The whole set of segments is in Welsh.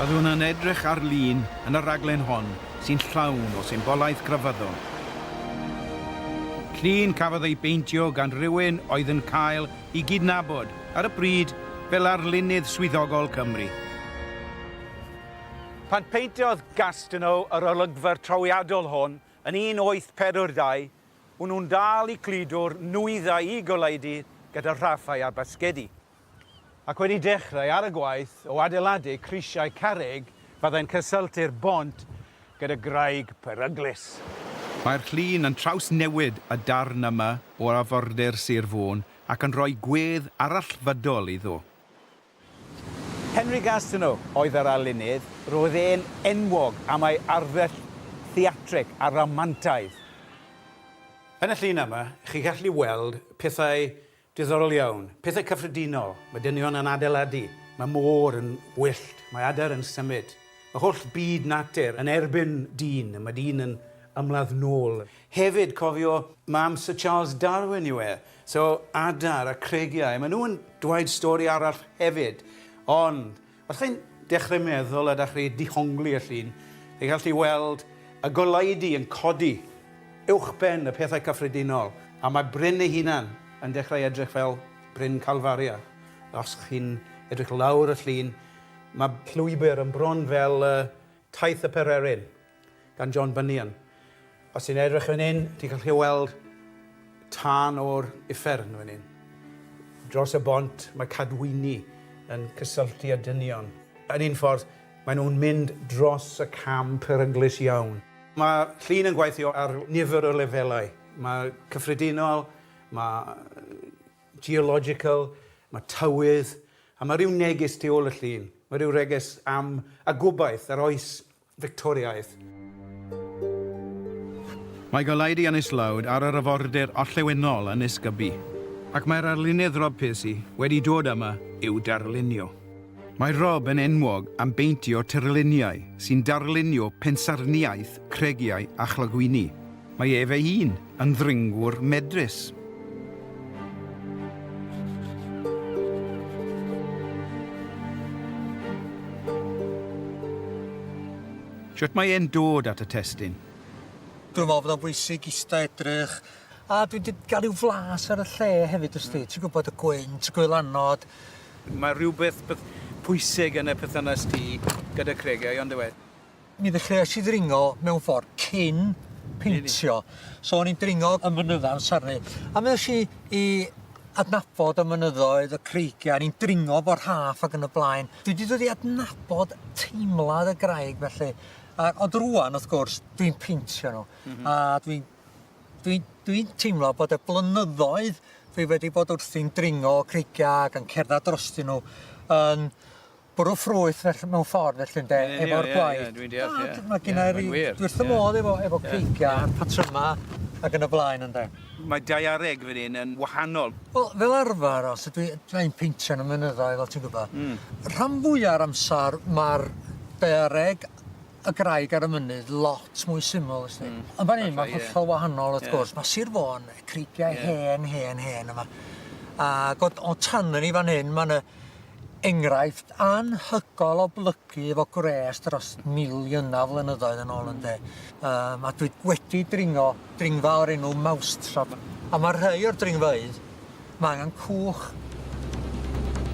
Byddwn yn edrych ar lun yn y rhaglen hon sy'n llawn o symbolaeth grefyddol. Llun cafodd ei beintio gan rywun oedd yn cael ei gydnabod ar y pryd fel arlunydd swyddogol Cymru. Pan peintiodd Gastineau yr olygfa trawiadol hon yn 1842, O'n nhw'n dal i cludo'r nwyddau i goleudy gyda rhaffau a basgedi. Ac wedi dechrau ar y gwaith o adeiladu crisiau carreg fyddai'n cysylltu'r bont gyda graig peryglus. Mae'r llun yn trawsnewid y darn yma o arfordir Sir Fôn ac yn rhoi gwedd arallfydol iddo. Henry Gastineau oedd yr arlunydd. Roedd e'n enwog am ei arddull theatrig a ramantaidd. Yn y llun yma, chi'n gallu weld pethau diddorol iawn, pethau cyffredinol. Mae dynion yn adeiladu, mae môr yn wyllt, mae adar yn symud. Mae holl byd natur yn erbyn dyn, a mae dyn yn ymladd nôl. Hefyd, cofio, mae amser Charles Darwin yw e. So adar a creigiau, maen nhw'n dweud stori arall hefyd. Ond os chi'n dechrau meddwl a da chi dihongli y llun, chi'n gallu weld y goleudy yn codi uwchben y pethau cyffredinol, a mae bryn ei hunan yn dechrau edrych fel Bryn Calfaria. Os chi'n edrych lawr y llun, mae llwybr yn bron fel taith y pererin. gan John Bunyan. Os ti'n edrych fan hyn, ti'n gallu weld tân o'r uffern fan hyn. Dros y bont, mae cadwyni yn cysylltu â dynion. Yn un ffordd, maen nhw'n mynd dros y cam peryglus iawn. Mae llun yn gweithio ar nifer o lefelau. Mae cyffredinol, mae geological, mae tywydd, a mae rhyw neges tu ôl y llun. Mae rhyw reges am y gobaith, yr oes Fictoriaidd. Mae goleudy yn islawdd ar yr arfordir orllewinol yn Nisgybee, ac mae'r arlunydd Rob Piercy wedi dod yma i'w darlunio. Mae Rob yn enwog am beintio tirluniau sy'n darlunio pensaernïaeth, cregiau a chlogwyni. Mae ef ei hun Yn ddringwr medrus. Shwt mae e'n dod at y testun? Dwi'n meddwl bod o'n bwysig ista edrych a dwi 'di ga'l ryw flas ar y lle hefyd wst ti, ti'n gwybod y gwynt, gwylanod. Mae rhywbeth pwysig yn y perthynas ti gyda Cregau on'd yw e? Mi ddechreuais i ddringo mewn ffordd cyn peintio. So o'n i'n dringo yn fynydda yn Sarney a mi nesh i i adnabod y mynyddoedd, y creigia, o'n i'n dringo efo rhaff ag yn y blaen. Dwi 'di dod i adnabod teimlad y graig felly a ond rŵan wrth gwrs dwi'n peintio nhw. M-hm. A dwi'n dwi'n dwi'n teimlo bod y blynyddoedd dwi wedi bod wrthi'n dringo creigia ag yn cerddad drostyn nhw yn bwrw ffrwyth felly mewn ffordd felly ynde efo'r gwaith. Ie ie ie dwi'n deall ie. Mae gynna i ryw dwi wrth fy modd efo efo creigia a'r patryma ag yn y blaen ynde. Mae daeareg fan hyn yn wahanol. Wel fel arfer os ydw i dw i'n peintio yn y mynyddoedd fel ti'n gwbo. Hmm. Rhan fwya'r amsar ma'r daeareg y graig ar y mynydd lot mwy syml wsti. Hmm. Ond fan hyn ma'n hollol wahanol wrth gwrs ma' Sir Fôn creigiau hen hen hen yma. A god o tan yn i fan hyn ma' na enghraifft anhygoel o blygu efo gwres dros miliynau o flynyddoedd yn ôl ynde. Um, a dwi wedi dringo dringfa o'r enw Mousetrap. A mae rhai o'r dringfeydd, mae angen cwch.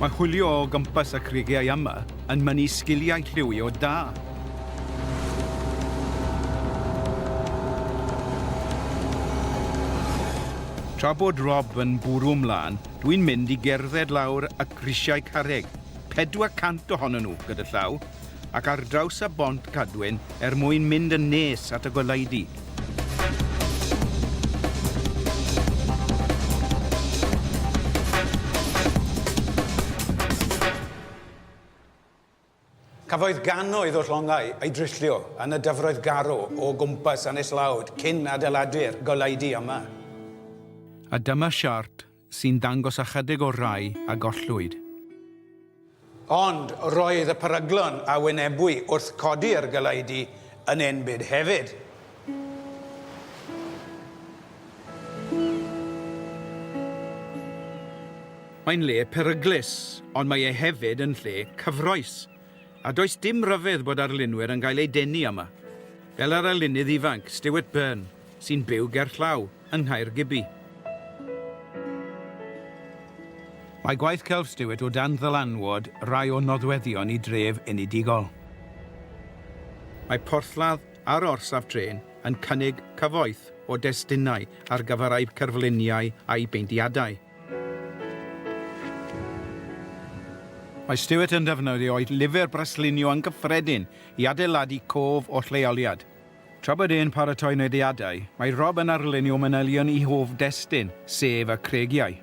Mae chwilio o gwmpas y creigiau yma yn mynnu sgiliau lliwio da. Tra bod Rob yn bwrw mlaen, Dwi'n mynd i gerdded lawr y grisiau carreg, 400 ohonyn nhw gyda llaw, ac ar draws y Bont Cadwyn er mwyn mynd yn nes at y goleudy. Cafodd gannoedd o llongau eu dryllio yn y dyfroedd garw o gwmpas Aneslawd cyn adeiladu'r goleudy yma. A dyma siart sy'n dangos ychydig o'r rhai a gollwyd. Ond roedd y peryglon a wynebwy wrth codi'r goleudy yn enbyd hefyd. Mae'n lle peryglus, ond mae e hefyd yn lle cyffrous, a does dim rhyfedd bod arlunwyr yn cael eu denu yma, fel yr arlunydd ifanc Stuart Byrne, sy'n byw gerllaw yng Nghaergybi. Mae gwaith celf Stuart o dan ddylanwad rhai o nodweddion y dref enedigol. Mae porthladd a'r orsaf trên yn cynnig cyfoeth o destunau ar gyfer eu cerfluniau a'u peintiadau. Mae Stewart yn defnyddio'i lyfr braslunio yn gyffredin i adeiladu cof o'r lleoliad. Tra bod e'n paratoi nodiadau, mae Rob yn arlunio manylion i hoff destun, sef y Creigiau.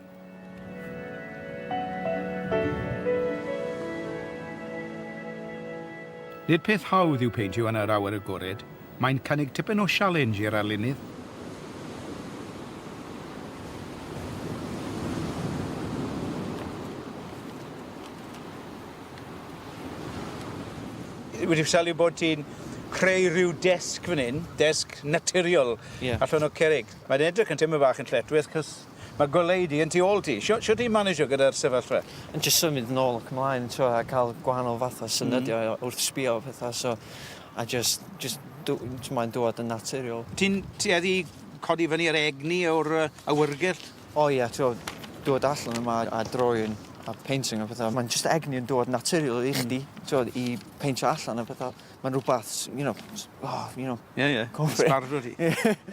Nid peth hawdd yw peidio yn yr awyr agored, mae'n cynnig tipyn o sialens i'r arlunydd. wedi sylwi bod ti'n creu rhyw desg fan hyn, desg naturiol yeah. allan o cerig. Mae'n edrych yn teimlo bach yn lletwith, cos Mae gwely di yn tu ôl ti. Shw- shwt i manejo gyda'r sefyllfa? Yn jyst symud nôl ac ymlaen t'wo' a ca'l gwahanol fath o syniada o wrth sbio a petha so a jyst jyst dw- jys mae'n dŵad yn naturiol. Ti'n tueddu i codi fyny yr egni o'r yy awyrgylch? O ie t'wo' dŵad allan yma a drawing a painting a petha ma'n jyst egni yn dŵad naturiol i chdi. Hmm. T'wod i peintio allan a petha. Mae'n rhywbeth, you know, oh, you know. Ie, ie, yn sbardro ti.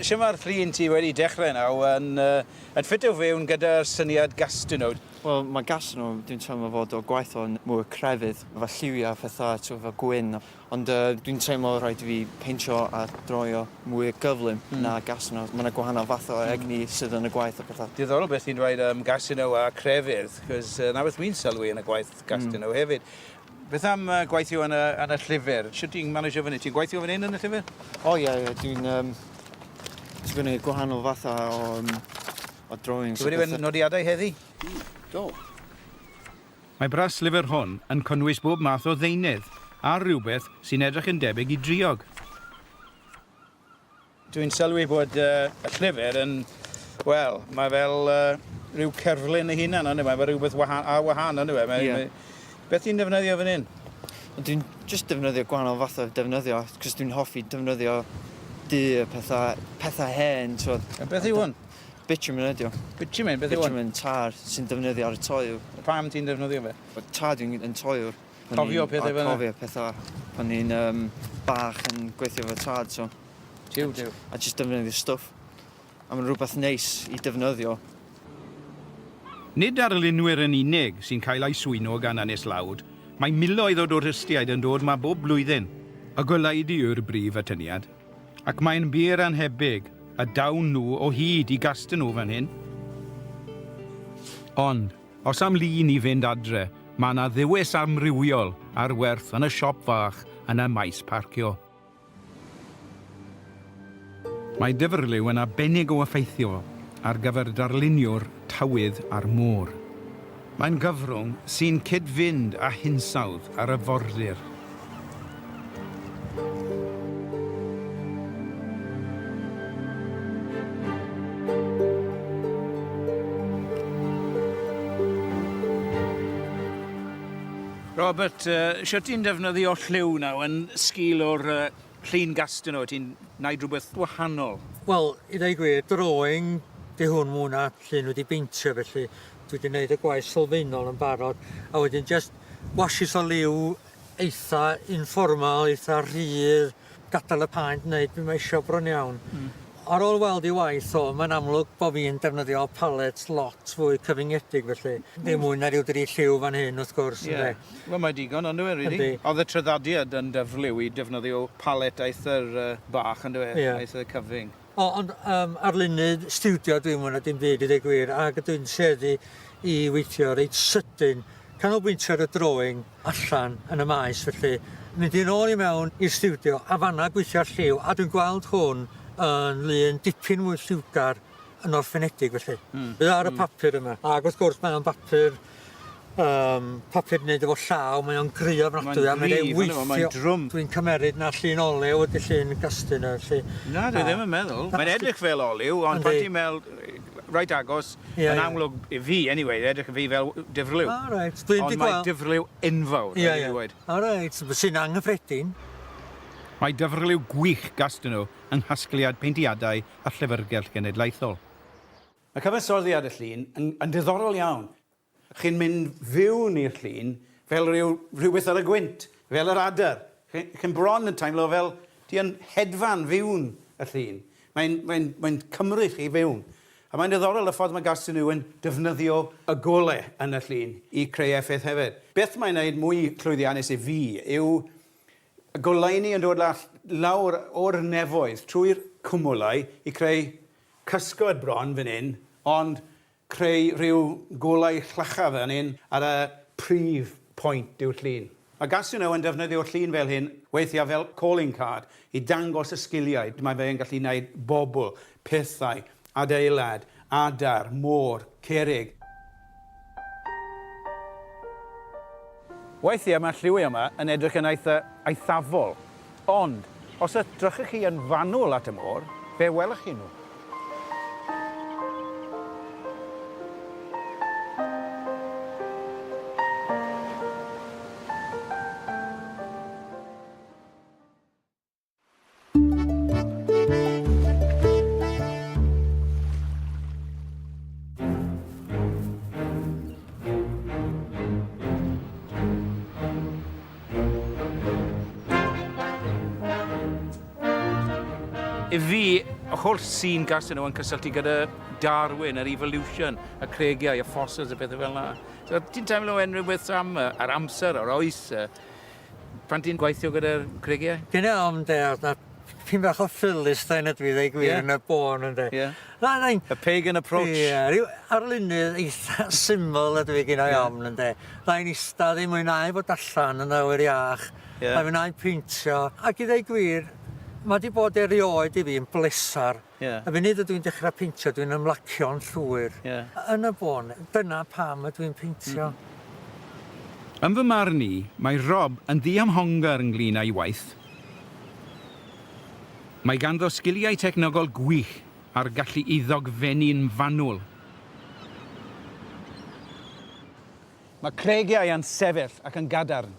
Shwt mae'r fflin ti wedi dechrau nawr yn, uh, yn ffitio fewn gyda'r syniad Gastineau? Wel, mae Gastineau, dwi'n teimlo fod o gwaith o'n mwy crefydd, fel lliwiau a phethau, ti'n fel gwyn. Ond uh, dwi'n teimlo rhaid i fi peintio a droio mwy gyflym mm. na Gastineau. Mae yna gwahanol fath o hmm. egni mm. sydd yn y gwaith a pethau. Diddorol beth ti'n dweud am um, Gastineau a crefydd, cos uh, na beth wy'n sylwi yn y gwaith Gastineau mm. hefyd. Beth am uh, gweithio yn y, yn y llyfr? Sut ti'n managio fyny? Ti'n gweithio fan hyn yn y llyfr? O ie, ie, dwi'n... Um, dwi'n gwneud gwahanol fatha o, um, o drawings. Ti'n wedi fy nodiadau heddi? Mm, do. Mae bras llyfr hwn yn cynnwys bob math o ddeunydd a rhywbeth sy'n edrych yn debyg i driog. Dwi'n sylwi bod y llyfr yn, wel, mae fel rhyw cerflun ei hunan on'd yw e? Mae rhywbeth waha- ar wahân on'd yw e? Mae mae... Beth ti'n defnyddio fan 'yn? Dwi'n jyst defnyddio gwahanol fath o defnyddio 'c'os dwi'n hoffi defnyddio du a petha petha hen t'wod. A beth yw hwn? Bitumen ydi o. Bitumen beth yw 'wn? Bitumen tar sy'n defnyddio ar y toiu. Pam ti'n defnyddio fe? Wel tar dwi'n yn toiwr. Cofio pethe fel 'na? Cofio petha pan o'n i'n bach yn gweithio efo tad so... Jiw jiw. ...a jyst defnyddio stwff. A ma'n rwbeth neis i defnyddio. Nid darlunwyr yn unig sy'n cael eu swyno gan Ynys Lawd, mae miloedd o dwristiaid yn dod 'ma bob blwyddyn. Y goleudy yw'r brif atyniad, ac mae'n wir annhebyg y dawn nhw o hyd i Gastenau fan hyn. Ond, Os am lu ni fynd adre, mae yna dduwies amrywiol ar werth yn y siop fach yn y maes parcio. Mae dyfrliw yn arbennig o effeithiol ar gyfer darlunio'r tywydd a'r môr. Mae'n gyfrwng sy'n cyd-fynd â hinsawdd yr arfordir. Robert, uh, sio ti'n defnyddio lliw naw yn sgil o'r uh, llun gastyn o, ti'n naid rhywbeth wahanol? Wel, i ddau gwir, drawing di hwn mwy na llun wedi beintio, felly dwi wedi gwneud y gwaith sylfaenol yn barod, a wedyn just washes o liw eitha informal eitha rhydd gadal y paent neud be' mae isio bron iawn. Hmm. Ar ôl weld ei waith o mae'n amlwg bo fi'n defnyddio palet lot fwy cyfyngedig felly ddim hmm. mwy na ryw dri lliw fan hyn wrth gwrs yeah. ynde. Wel mae digon ond yw rili. Really? Oedd y tryddadiad yn dyfliw i defnyddio palet eitha'r uh, bach yndyw e? Yeah. Eitha cyfyng. O, ond um, arlunydd stiwdio dwi mwyn a dim byd i ddweud gwir, ac dwi'n tueddu i weithio reit sydyn, canolbwyntio ar y drawing allan yn y maes, felly mynd i'n ôl i mewn i'r stiwdio a fanna gweithio ar lliw, a dwi'n gweld hwn yn lun dipyn mwy lliwgar yn orffenedig felly. Mm. Bydd ar y hmm. papur yma. Ac wrth gwrs mae o'n bapur yym papur neud efo llaw mae o'n gry ofnadwy a mae e'n weithio. Mae'n drwm. Dwi'n cymeryd na llun olew ydi llun gastyn yy lly. Na dwi ddim yn meddwl. Mae'n edrych fel olew ond pan ti'n mel- reit agos yn amlwg i fi anyway edrych i fi fel difrlyw. O reit dwi 'di gwel'... Ond mae difrlyw enfawr rhaid i fi weud. O reit sy'n anghyffredin. Mae dyfrlyw gwych gastyn nhw yng nghasgliad peintiadau a llyfrgell genedlaethol. Mae cyfansoddiad y llun yn, yn diddorol iawn. Chi'n mynd fiwn i'r llun fel rhyw, rhywbeth ar y gwynt, fel yr adar. Chi, chi'n bron yn teimlo fel ti yn hedfan fiwn y llun. Mae'n, mae'n, mae'n cymryd chi fiwn. A mae'n diddorol y ffordd mae Garth Sunu yn defnyddio y golau yn y llun i creu effaith hefyd. Beth mae'n wneud mwy llwyddiannus i fi yw y goleuni yn dod lawr o'r nefoedd trwy'r cwmwlau i creu Cysgod bron fan hyn, ond creu rhyw golau llachar fan hyn ar y prif pwynt yw'r llun. Mae Gasuno yn defnyddio llun fel hyn weithiau fel calling card i dangos y sgiliau mae fe'n gallu wneud bobl, pethau, adeilad, adar, môr, cerrig. Weithiau mae'r lliwi yma yn edrych yn eitha' eithafol, ond os edrychwch chi yn fanwl at y môr, fe welwch chi nhw. I fi, y holl sîn gas yno yn cysylltu gyda Darwin, yr evolution, y cregiau, y fossils, y pethau fel yna. So, ti'n teimlo unrhyw beth am yr amser, yr oes, Pan ti'n gweithio gyda'r creigiau? Ti'n iawn ynde a na- tipyn bach o Philistine ydw i ddeu gwir... Ie? ...yn y bôn ynde? Ie. Na na i... A pagan approach. Ie ryw arlunydd eitha syml ydw i gin-i ofn ynde? Na i'n ista ddim mwyn'au bod allan yn awyr iach... Ie. ...na finnau'n peintio ac i ddeu gwir ma' 'di bod erioed i fi yn blesar Y funud ydw i'n dechrau peintio, dwi'n ymlacio'n llwyr. Yn y bôn, dyna pam ydw i'n peintio. Yn fy marn i, mae Rob yn ddiymhongar ynglŷn â'i waith. Mae ganddo sgiliau technegol gwych a'r gallu i ddogfennu'n fanwl. Mae creigiau yn sefyll ac yn gadarn.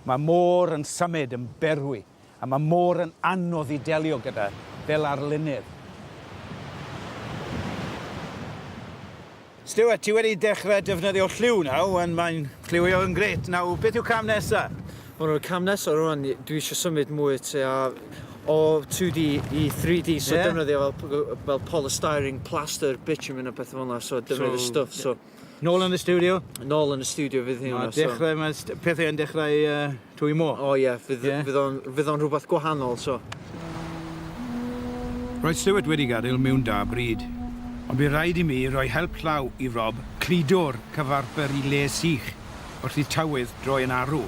Mae môr yn symud yn berwi. A mae mor yn anodd i delio gyda, fel arlunydd. Stuart, ti wedi dechrau defnyddio lliw nawr, ond mae'n lliwio yn grêt. Nawr, beth yw cam nesa? Wel, y cam nesa rwan, dwi eisiau symud mwy tua o 2D i 3D, so Ie. defnyddio fel p- g- fel polystyrene, plaster, bitumen a pethe fel 'na, so defnyddio stwff, so. Nôl yn y stiwdio? Nôl yn y stiwdio fydd hyn. Mae dechrau, mae pethau yn dechrau uh, twy mo. O ie, fydd, yeah. fydd, on, fydd on rhywbeth gwahanol, so. Roedd Stuart wedi gadael mewn da bryd. Ond bydd rhaid i mi roi help llaw i Rob cludo'r cyfarpr i le sych wrth i tywydd droi yn arw.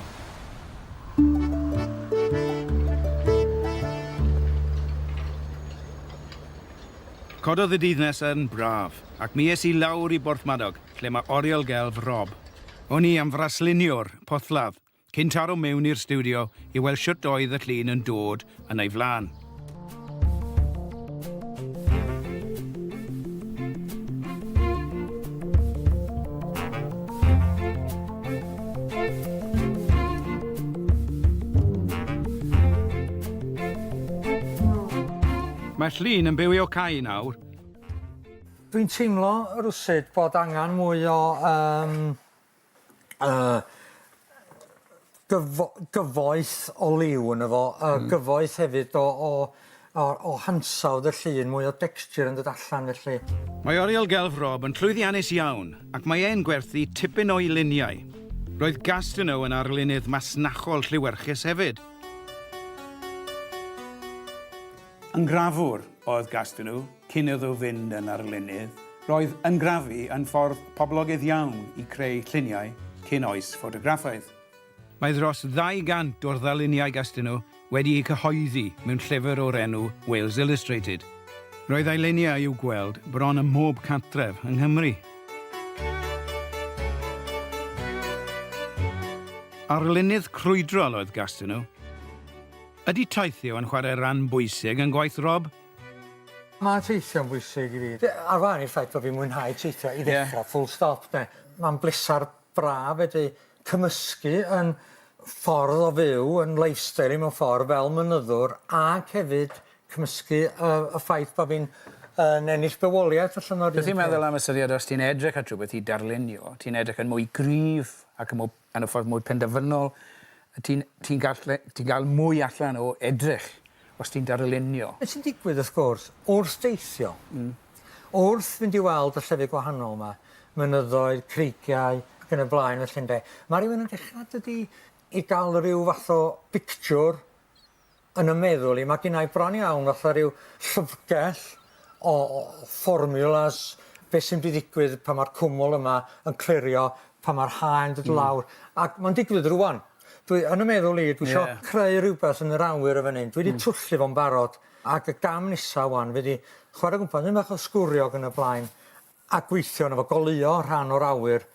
Cododd y dydd nesaf yn braf. Ac mi es i lawr i Borthmadog, lle mae Oriel Gelf Rob. O'n i am fraslunio'r porthladd, cyn taro mewn i'r stiwdio i weld shwt oedd y llun yn dod yn ei flaen. Mae'r llun yn byw i Okai nawr. Dwi'n teimlo rywsut bod angan mwy o yym yy gyfo- gyfoeth o liw yno fo a gyfoeth hefyd o o o o hansawdd y llun, mwy o dexture yn dod allan felly. Mae Oriel Gelf Rob yn llwyddiannus iawn ac mae e'n gwerthu tipyn o'i luniau. Roedd Gastineau yn arlunydd masnachol lliwyrchus hefyd. Yngrafwr oedd Gastineau cyn iddo fynd yn arlunydd. Roedd yngrafu yn ffordd poblogaidd iawn i creu lluniau cyn oes ffotograffaidd. Mae dros 200 o'r ddarluniau Gastineau wedi eu cyhoeddi mewn llyfr o'r enw Wales Illustrated. Roedd ei luniau i'w gweld bron ym mhob cartref yng Nghymru. Arlunydd crwydrol oedd Gastineau. Ydy teithio yn chwarae ran bwysig yn gwaith Rob? Mae teithio'n bwysig i fi. Ar wahân i'r ffaith bod fi'n mwynhau teithio i ddechrau, full stop 'de, mae'n bleser braf fedru cymysgu yn ffordd o fyw, yn lifestyle i mewn ffordd fel mynyddwr ac hefyd cymysgu y y ffaith bod fi'n yn ennill bywoliaeth allan o'r un peth. Be' ti'n meddwl am y syniad os ti'n edrych at rhywbeth i darlunio, ti'n edrych yn mwy gryf ac yn mwy Yn y ffordd mwy penderfynol, ti'n ti'n gallu ti'n cael mwy allan o edrych os ti'n darlunio. Be' sy'n digwydd wrth gwrs, wrth deithio, wrth fynd i weld y llefydd gwahanol 'ma, mynyddoedd, creigiau ac yn y blaen felly ynde, ma' rywun yn dechra dydi, i ga'l ryw fath o bictiwr Yn y meddwl i mae ginnai bron iawn fatha rhyw llyfrgell o fformiwlas beth sy'n mynd i ddigwydd pan mae'r cwmwl yma yn clirio, pan mae'r haen dod lawr, ac mae'n digwydd rŵan. Dwi, yn y meddwl i, dwi isio creu rhywbeth yn yr awyr yn fan hyn, dwi 'di twllu fo'n barod, ac y gam nesa ŵan fydd i chwarae gwmpas, mynd bach o sgwrio ag yn y blaen, a gweithio arno fo, goleuo rhan o'r awyr,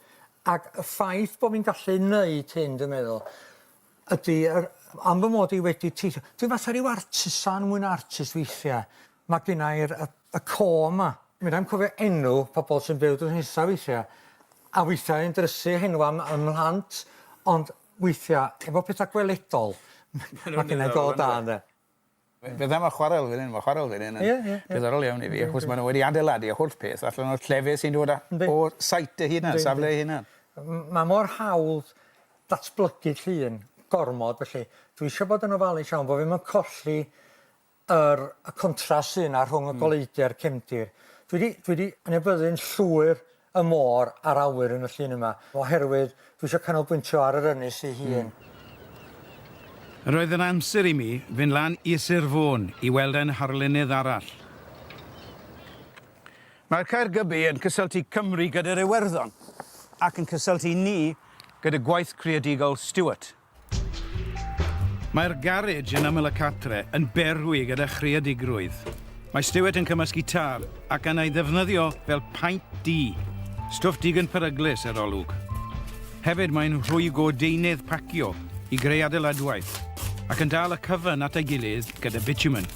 ac y ffaith bod fi'n gallu neud hyn dwi'n meddwl, ydy yr am fy mod i wedi teithio dwi fatha ryw artisan mwy na artist weithia'. Ma' ginnai'r y y côr 'ma. Medrai'm cofio enw pobol sy'n byw drws nesa weithia'. A weithia' yn drysu henwa m- ym mhlant ond weithia' efo petha gweledol ma' ginnai go da ynde? Fe- fydda 'ma chwarel fyn 'yn ma' chwarel fyn 'yn yn... Ie ie. ...diddorol iawn i fi achos ma' nw wedi adeiladu y holl peth allan o'r llefydd sy'n dod a... Yndi. ...o site ei hunan safle ei hunan. M- ma' mor hawdd datblygu llun gormod felly dwi isio bod yn ofalus iawn bo' fi'm yn colli yr y contrast sy 'na rhwng y goleudy a'r cefndir. Dwi 'di dwi 'di anybyddu'n llwyr y môr a'r awyr yn y llun yma, oherwydd dwi isio canolbwyntio ar yr ynys ei hun. Roedd yn amser i mi fynd lan i Sir Fôn i weld ein harlunydd arall. Mae'r Caergybi yn cysylltu Cymru gyda'r Iwerddon ac yn cysylltu ni gyda gwaith creadigol Stuart. Mae'r garej yn ymyl y cartre yn berwi gyda chreadigrwydd. Mae Stewart yn cymysg gitar ac yn ei ddefnyddio fel paent du. Stwff digon peryglus, yr olwg. Hefyd mae'n rhwygo deunydd pacio i greu adeiladwaith ac yn dal y cyfan at ei gilydd gyda bitumen.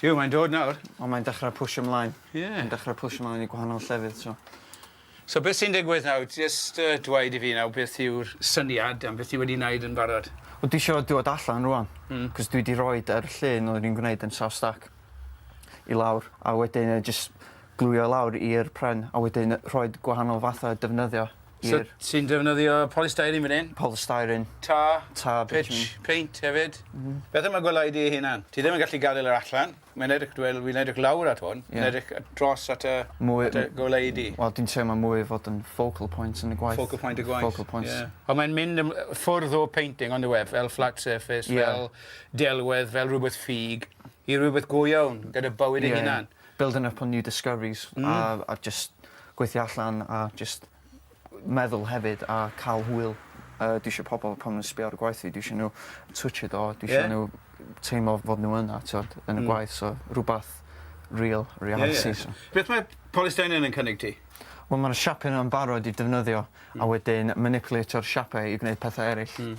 Ti'w' mae'n dod nawr. O mae'n dechre pwsio mlaen. Ie. Mae'n dechre pwsio mlaen i gwahanol llefydd so. So beth sy'n digwydd nawr jyst yy dweud i fi nawr beth yw'r syniad am beth ti wedi neud yn barod? Wel dwi isio dod allan rŵan. Hmm. 'C'os dwi 'di roid yr llun oeddwn i'n gwneud yn South Stack i lawr a wedyn yy jys glwio lawr i'r pren a wedyn yy rhoid gwahanol fatha defnyddio So ti'n defnyddio polystyrene fan hyn? Polystyrene. Tar? Tar bitumen. Pitch, paint hefyd? Mhm. Beth am y gwelyau dy hunan? Ti ddim yn gallu gadael yr allan. Mae'n edrych, wel, fi'n edrych lawr at hwn. Ie. Mae'n edrych dros at y... Mwy... At y gwelyau di. Wel, dwi'n teimlo mwy fod yn focal point yn y gwaith. Focal point y gwaith. Focal point. Ie. Ond mae'n mynd yn ffwrdd o painting ond yw e, fel flat surface... Ie. ...fel delwedd, fel rhywbeth ffug, i rhywbeth go iawn, gyda bywyd ei hunan. Building up on new discoveries a a jyst gweithio allan a jyst meddwl hefyd a ca'l hwyl. Yy dwi isio pobol pan ma' nw'n sbio ar y gwaith fi dwi isio n'w twtshio do dwi isio n'w teimlo fod n'w yna t'od yn y gwaith so rwbath real reality so. Beth mae polystyrene yn cynnig ti? Wel ma'r siape 'na'n barod i defnyddio a wedyn manipulatio'r siape i gwneud pethe eryll. Hmm.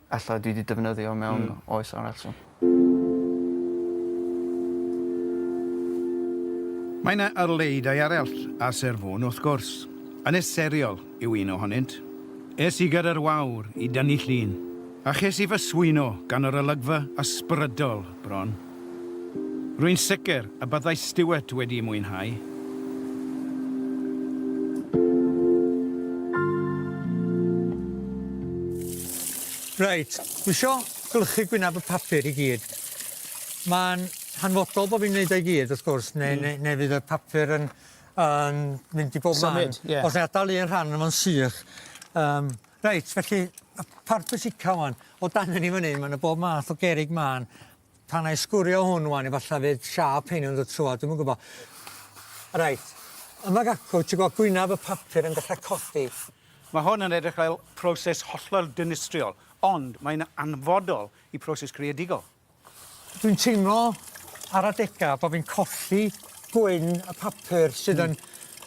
Ella dwi 'di defnyddio mewn... Hmm. ...oes arall so. Mae 'na arleuddau arall ar Sir Fôn wrth gwrs. Ynys Seriol yw un ohonynt. Es i gyda'r wawr i dynnu llun, a ches i fy swyno gan yr olygfa ysbrydol bron. Rwy'n sicr y byddai Stuart wedi'i mwynhau. Reit, dwi isio gwlychu gwyneb y papur i gyd. Mae'n hanfodol bod fi'n wneud o i gyd, wrth gwrs, neu, mm. neu, neu fydd y papur yn, yn mynd i bob man. Os na adael un rhan yma'n sych, um, Reit felly y part pwysica ŵan o dan hyn i fyny ma' 'na bob math o gerrig mân pan ai sgwrio hwn ŵan efalla fydd siâp rhein yn dod trwodd dwi'm yn gwbo. Reit yma acw ti gweld gwynab y papur yn dechra codi. Ma' hwn yn edrych fel proses hollol dinistriol ond mae'n anfodol i proses creadigol. Dwi'n teimlo ar adega bo' fi'n colli gwyn y papur sydd yn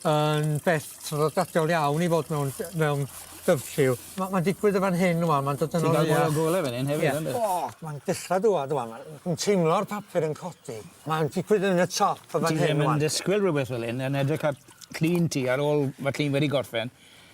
yn beth traddodiadol iawn i fod mewn ll- mewn dyfrlliw. Ma' ma'n digwydd yn fan hyn ŵan ma'n dod yn o leia. Ti'n ga'l mwy o gole fan 'yn hefyd on'd wyt? O! Ma'n dechra dŵad ŵan ma' fi'n teimlo'r papur yn codi. Ma'n digwydd yn y top yn fan hyn ŵan. Ti ddim yn disgwyl rwbeth fel 'yn yn edrych ar llun ti ar ôl ma' llun wedi gorffen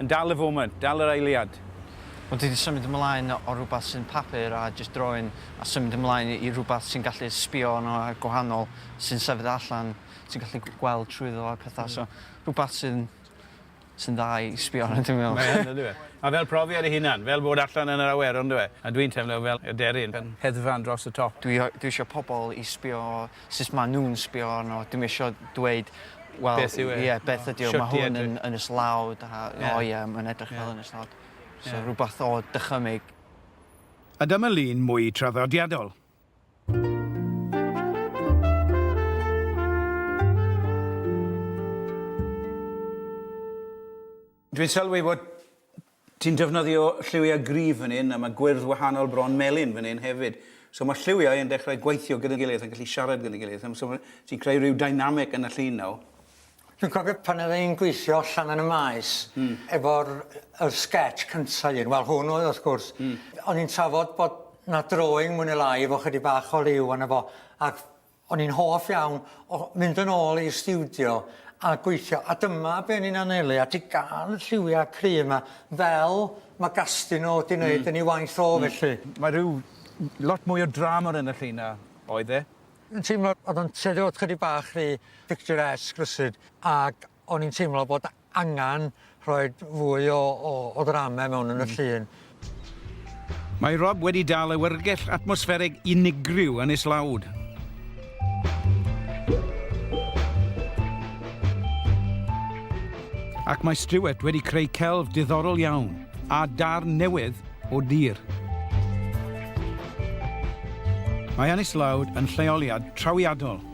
Yn dal y foment, dal yr eiliad. Ond dydi symud ymlaen o rywbeth sy'n papur a jyst drawing a symud ymlaen i rywbeth ti'n gallu sbio arno a gwahanol, sy'n sefyll allan, ti'n gallu gweld trwyddo a pethau, so rhywbeth sy'n sy'n dda i sbio arno dwi'n meddwl. Mae yn yndyw e? Mae fel profiad ei hunan, fel bod allan yn yr awyr yndyw e? A dwi'n teimlo fel aderyn yn hedfan dros y top. Dwi dwi isio pobl i sbio sut ma nhw'n sbio arno, dwi'm isio dweud wel... Beth yw e? Ie, beth ydy o, ma hwn yn yn islawd a o ie, mae'n edrych fel yn islawd. So rhywbeth o dychymyg. A dyma lun mwy traddodiadol. Dwi'n sylwi fod Ti'n defnyddio lliwiau gryf fan hyn a mae gwyrdd wahanol bron melyn fan hyn hefyd. So mae'r lliwiau yn dechrau gweithio gyda'n gilydd yn gallu siarad gyda'n gilydd. Yym so ti'n creu rhyw dynamic yn y llun nawr. Dwi'n cofio pan oedd e'n gweithio allan yn y maes efo'r yr sketch cynta un, wel hwn oedd wrth gwrs. O'n i'n trafod bod 'na drawing mwy ne' lai efo chydig bach o liw arno fo ac O'n i'n hoff iawn o mynd yn ôl i'r stiwdio a gweithio a dyma be o'n i'n anelu at i ga'l y lliwia cry yma fel ma Gastino di neud... Hmm. ...yn ei waith o felly. Mae rhyw lot mwy o drama yn y llun na oedd e. Yn teimlo o'dd o'n tueddu o chydig bach rhy picturesque rywsud ag O'n i'n teimlo bod angen rhoi fwy o, o, o ddrama mewn yn y llun. Mae Rob wedi dal awyrgell atmosfferig unigryw yn islawd. Ac mae Stuart wedi creu celf diddorol iawn a darn newydd o dir. Mae Anislawd yn lleoliad trawiadol